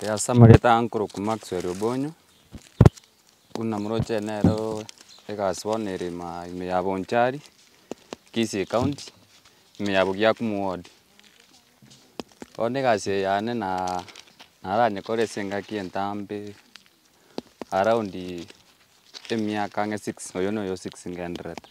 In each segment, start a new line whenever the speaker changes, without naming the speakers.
Ee ase amagete aa nkorokwa Maxwell Obonyo, buna moroche nere oo egasi bono ere ima ime ya Bonchari, Kisii County, ime ya Bogiakumu ward. Bono egasi eye yane naa naranyekore ase engaki entambe, around emiaka ang'e six, oyo noyo six ngendererete.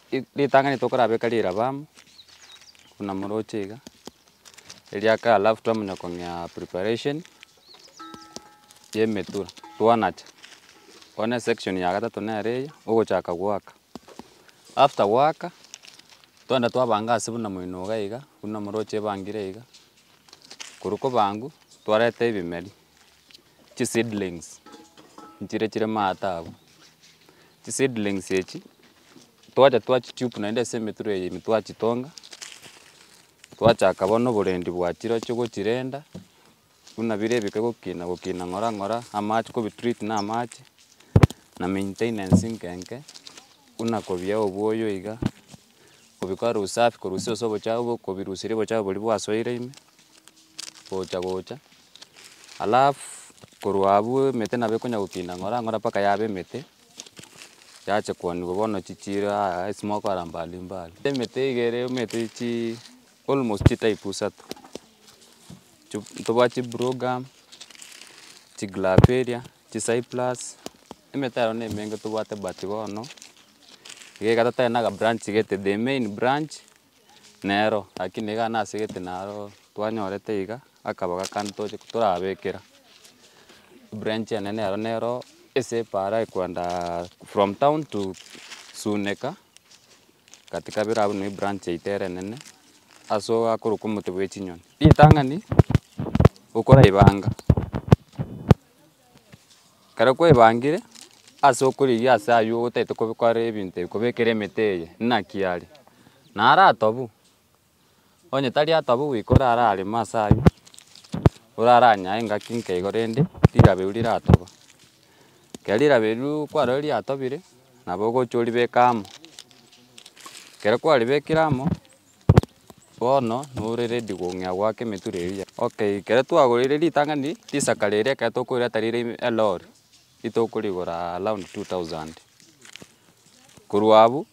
Ritang'ani tokorabeka riire aba amo, buna moroche iga, eria kare alafu twamanya kong'ea preparation ya emetura, twanacha. Bono esection ya gatato nere eye, ogochaka goaka. After goaka, twaenda twabanga ase buna moino iga iga, buna moroche ebangire iga, korwa kobangwa, twareta ebimeri. chiseedlings nchire chire maate abwo. Chiseedlings echi twacha twachitupe naende ase emetwe eye ime twachitonga, twachaka bono oborendi bwa chirochio gochirenda, buna bire ebike gokina gokina ng'ora ng'ora, amache kobitreat na amache, na maintenance nke nke, buna kobia obuoyo iga. kobikora usafi korusia ase obochafu obo kobirusiria obochafu boria bwasoire ime, gocha gocha, alafu korwa abwo emete nabo ekonya gokinda ng'ora ng'ora mpaka yaba emete, yacha koaniwa bono chichiiri aa esmoke ara mbali mbali. Emete iga ere omanyete chii almost chitype isato, tobwate chibrugam, chiglaperia. Chicyprus, emete yaye nemenge tobwate but bono, igaiga totari na aga branch gete, the main branch nero, lakini iga ase ase gete naro twanyorete iga akabaga kande toche torabekera, branch enene ero nero ase epara ekwenda from town to sunika, gati kabere abwo nigo ebranch yaito ere enene, ase akorokwa omote bwa echinyoni. Ritang'ani, okoraibanga. Ekero kwebangire ase okorigia ase aywo otagete kobekora ebinto ebi kobekera emete eye naki are, naro atobu, onye tari atobu goika orare aremo ase aywo, orare anyae engaki nkeigo rende rilabe riri ratoba. Ekero rilabe riria kwarorire riatobire, nabo ogocha oribeke amo, ekero kwaribekire amo. Bono nore redi kong'ea goaka emetura eria ya. Okay ekero twagoreire ritang'ani risaka riria ekero tokorireta rire ime elori, ritokorigora around two thousand. Korwa abwo,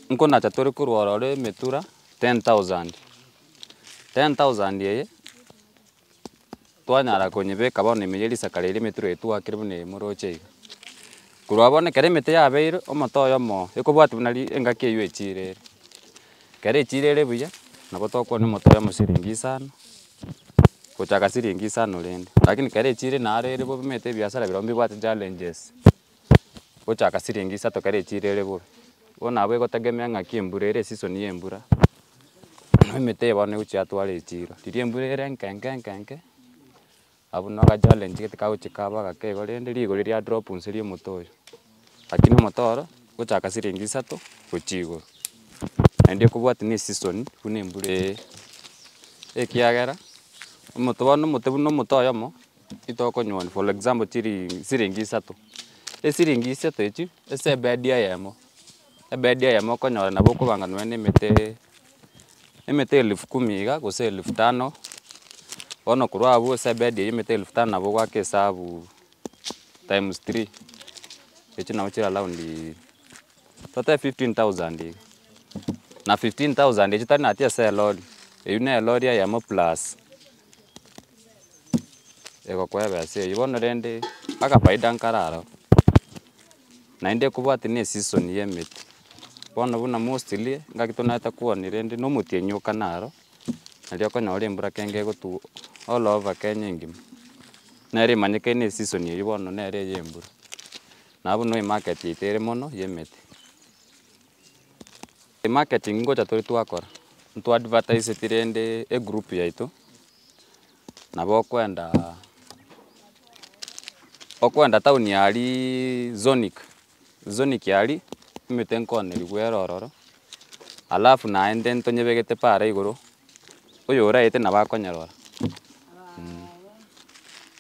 nkonacha tore korwa ororo emetura ten thousand, ten thousand eye. Twanyara konyebeka bono ime ya risaka riria emetiro eye twakire buna eye moroche iga. Korwa bono ekero emete yabeire omote oyomo ekobwati buna ri engaki eywo echirere. Ekero echirere buya nabo tokwana omote oyomo siringi isano gochaka siringi isano rende. Rakini ekero echire naro ere bobe omanyete ebiasara birobwo mbibwate challenges. gochaka siringi isato kare echiro ere buru. Bono nabo egotegemea ng'aki embura ere esisoni y'embura, na emete eye bono negochia yatwara echiro. Riria embura ere enke enke enke enke, nabo buna ogachallenge gete kagochia kaba gake igo rende rigori ria drop nse ria omote oyo. Lakini omote oro, gochaka siringi isato gochia igoro. Naende ekobwatia na esisoni buna embura eye, ekiagera omote bono omote buna omote oyomo. Titokonywa for example chiri siringi isato, esiringi isato echio ase ebedi eyemo, ebedi eyemo okonyora nabo okobanga nonya na emete emete elfu kumi iga gose elfu tano, bono korwa abwo ase ebedi eywo emete elfu tano nabo ogwake esabu times three echio nabo chire around totebe fifteen thousand iga, na fifteen thousand echio tari natia ase elori, eywo ne elori eyemo plus. Egokweba ase eyio bono rende akafaida nkare aroro, naende kobwate ne season ya emete, bono buna mostly engaki tonyarete koania rende na omotienyi oka naro, nario okonyora embura kenge egotwa all over kenya engima, nere emanyekete ne season eyio bono nere eye embura, nabo buna emarket yaito ere mono ya emete. Marketing ngocha tore twakora, nto advertiseti rende egroup yaito, nabo okwenda okwenda town ya aria zonic, zonic ya aria emete nkonerigwe ere ororo, alafu naende ntonyebegete pare igoro, oyoraete nabo akonyerora.